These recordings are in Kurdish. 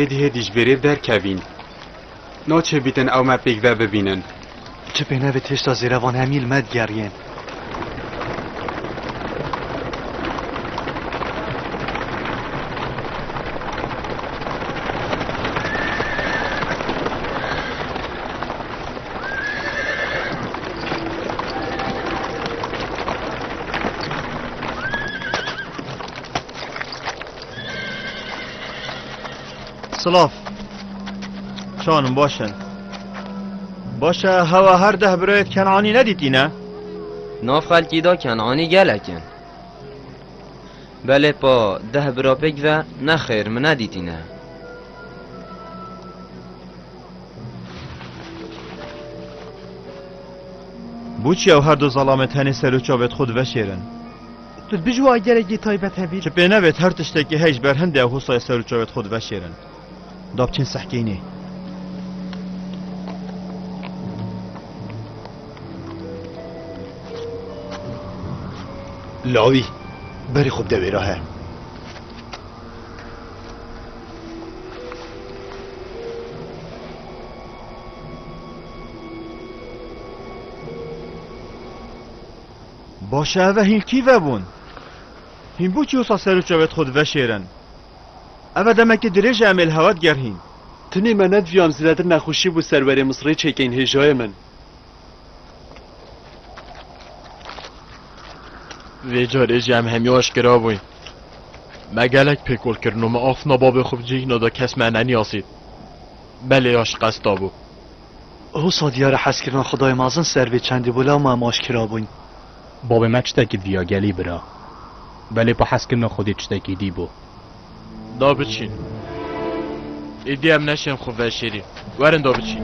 Hêdî hêdî ji vêrê derkevîn. Naçê bîtin ew me pêk ve bibînin. Çi pê nevê têşta zêre van hemî li me digeriyên. Silav. Şanim baş e. Baş e hewa her deh birayet Kenanî nedîtîne? Nav xelkî da Kenanî gelek in. Belê pa deh bira pêk ve nexêr min nedîtîne. Bû çi ew her du zalame tenê seroçavêt xwe diveşêrin? Tu bijî wa gelekî taybet hebî. Çi pê nevêt her tiştekî hey ji ber hin dê hûsayê ser û çavêt xwe diveşêrin. Da biçin sehkînê. Lawî, berî xwe bide wê re he. Baş e ev e hîn kî vebûn? Hîn bû çi wisa ser û çavê xwe diveşêrin? Ev e demekî dirêj e em ê li hewa digerhîn. Tenê me nediviyam zêdetir nexweşî bû ser werê Misirê çêkein hêjayê min. Vê carê jî em hemî aşkera bûyn. Me gelek pêkol kirin û me afna bavê xwe bi cihna da kes me neniyasît. Belê ya şikesta bû. Husa diyare hezkirina xwedayê mezin ser vê çendê bo lewma em aşkera bûyn. Bavê me çitekî diviya gelî bira. Belê pa hezkirina xwedê çitekî dî bo. Da biçîn. Îdî em neşên xwe veşêrî. Werin da biçîn.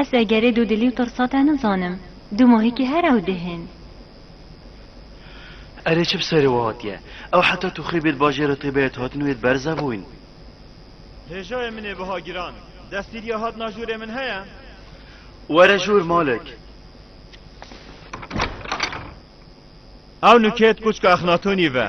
Es egerê dûdilî û tirsa te nizanim. Du mohîkî her ew dihên. Erê çi bi serê we hatiye? Ew heta Tûxê bê di bajêra te bê hatine wê di berza bûin. Hêjayê min ê biha giran. Destîrîya hatina jûrê min heye? Were jûr Malik. Ew nûkê di kûçka Exnatonî ve.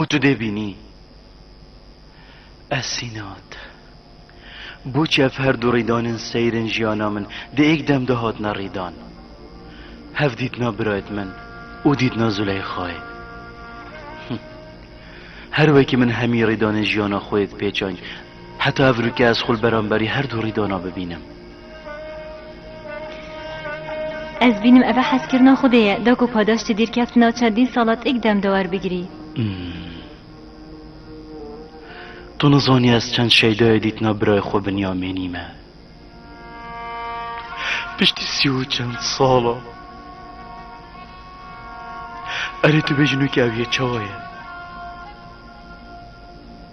Û tu dê bînî ez sîna te. Boçi ev her du rîdan in seyr in jiyana min di êk dem de hatine rîdan. Hev dîtina birayt min û dîtina Zûleyxayê. Him. Her wekî min hemî rîdanên jiyana xwê di pêçayn heta ev rûke ez xwe li beramberî her du rîdana bibînim. Ez bînim eve heskirina xwedê ye, da ku padaş ti dîrkeft na çendîn sala têk dem de werbigirî. Tu nizanî ez çend şeydayê dîtina birayê xwe Binyamînî me. Piştî sî û çend sala. Erê tu bêjî nûkê ew yê çawa ye?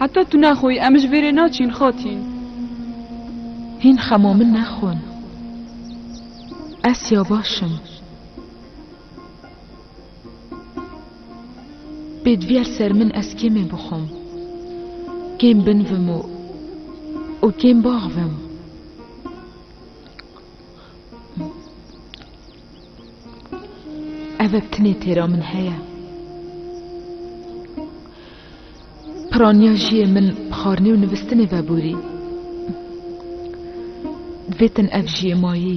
Heta tu naxoyî em ji vêrê naçîn xatîn. Hîn xemo min nexwin. Ez ya baş im. Bê diviyar ser min ez kêmê bixwim, kêm binivim û û kêm baxivim. Ev e tinê têra min heye. Piraniya jiyê min bi xwarinê û nivîstinê veborî. Divêtin ev jiyê mayî.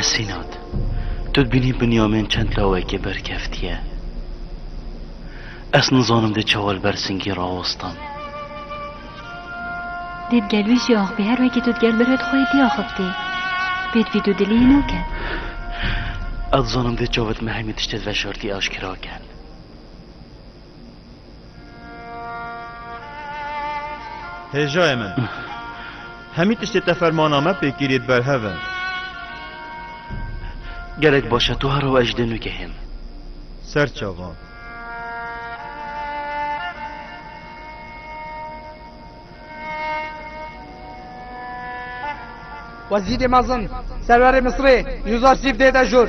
Esînat, tu dibînî Binyamîn çend lawekê berkeftiye. Ez nizanim dê çawa li ber singî rawestan. Dê di gel wî jî axivî her wekî tu di gel birê di xwe yê dî axivtî. Pê divî tu diliyê nake. Ez dizanim dê çavet me hemî tiştê di veşartî aşkira ken. Hêjayê min, hemî tiştê te fermana me pêkîrî di ber hev e. Gelek baş e, tu ha rew ez dê nugehim. Ser çavan. Wezîrê mezin, serverê Misirê, Yûza Sîf dê de jûr.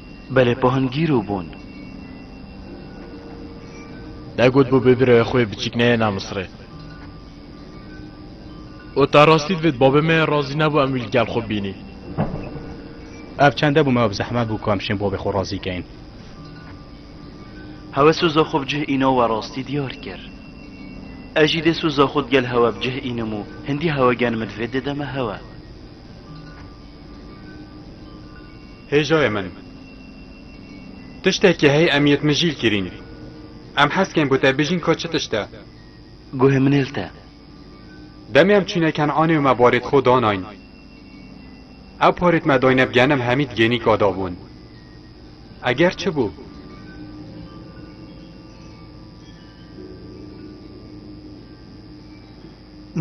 Belê pohan gîr û bûn. Te got bû bibirewê xwe biçîk neyêna Misirê. Û ta rastî divêt bavê me razî nebû em wî li gel xwe bînîn. Ev çende bû me bi zehmet bû ku em şên bavê xwe razî kein. Hewe soza xwe bi cih îna we rastî diyar kir. Ez jî dê soza xwe digel hewe bi cih înim û hindî hewe gen min divêt dê de me hewe. Hey cayê min. Tiştekî hey em yê mijîl kirîn. Em hez kên bi te bijîn ka çi tişt e. Guhê min ê li te. Demê em çûne Ken'anê û me barê di xwe danayn. Ew parê di me dayne bi genim hemî di gênîka da bûn. Eger çi bû?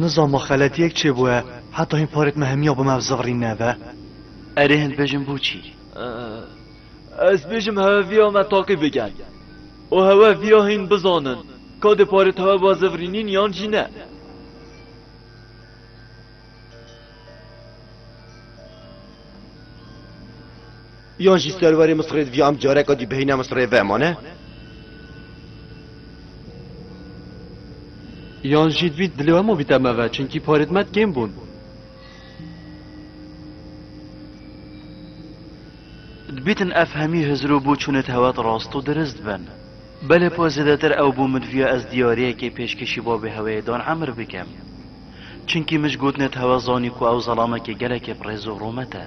Nizama xeletiyek çêbûye heta hîn parê me hemiya bi me bi zivrîn nebe. Erê hin bêjin boçî? Ez bêjim heweviya me taqî bikin û hewe viya hîn bizanin ka dê parê te weba zivrînîn yan jî ne. Yan jî serwerê Misirê divê em careke dî bihîne Misirê vemane? Yan jî divît dilê hema bîte me ve çinkî parêt me kêm bûn. Dibîtin ev hemî hizir û bûçûnê tewet rast û dirist bin. Belê po zêdetir ew bû min divîya ez diyariyekê pêşkêşî babê heweyê Dan Emir bikim. Çinkî min ji gotinê tewe zanî ku ew zelamekê gelekê bi rêz û rûmet e.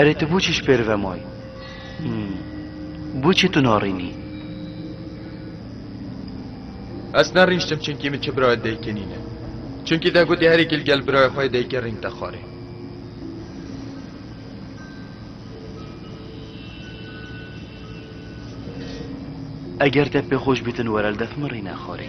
Erê tu bûçî ji pêrive may? Bûçî tu narînî? Ez nerîştim çunkî min çi birayê dayikê nîne. Çunkî te gotî herêkî li gel birayê xwe yê dayikê rîng te xwarê. Eger te pê xwe ji bî tu were li dev min rîne xwarê.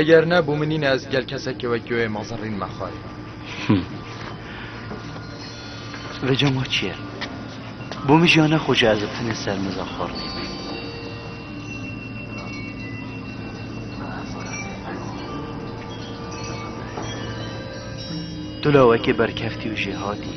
Eger ne bû minîne ez gel kesekê wek yoyê ma zerrîn me xwarê. Vê cama çi ye? Bû min jiya nexweşe ez ê tenê ser miza xwarinê bî. Tu lawekê berkeftî û jêhatî.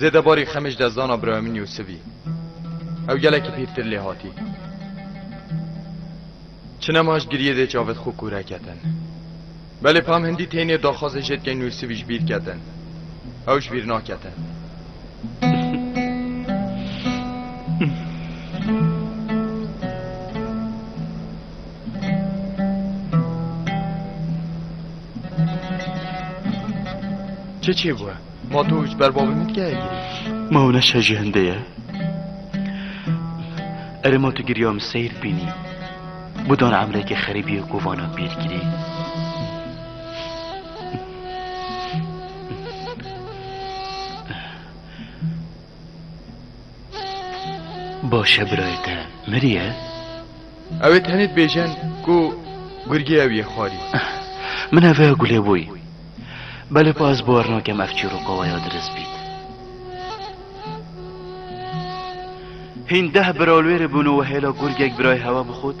Zêde barî xemê ji dezdana birayê min Yûsivî. Ew gelekî pîrtir lê hatî. Çinema ji giriyê dê çavê xwe kûre ketin. Belê pam hindî tênê daxwazê jêdkên Yûsivî ji bîr ketin. Ew ji bîr naketin. Çi çê bû? Ma tu ji ber bavê min dikeye girî? Ma ew neşe ji hindê ye. Erê ma tu giriya min seyr bînî. Budan emrekê xerîbiyê ku vana bîr girî. Baş e birayê te miriye? Ew ê tenê dibêjin ku gurgê ew yê xwarî. Min ev ê gulê bûyî. Belê pa ez bawar nakem ev çîroqawaya diriz bît. Hîn deh bira li wê re bûn û we hêla gurgek birayê hewa bixwit.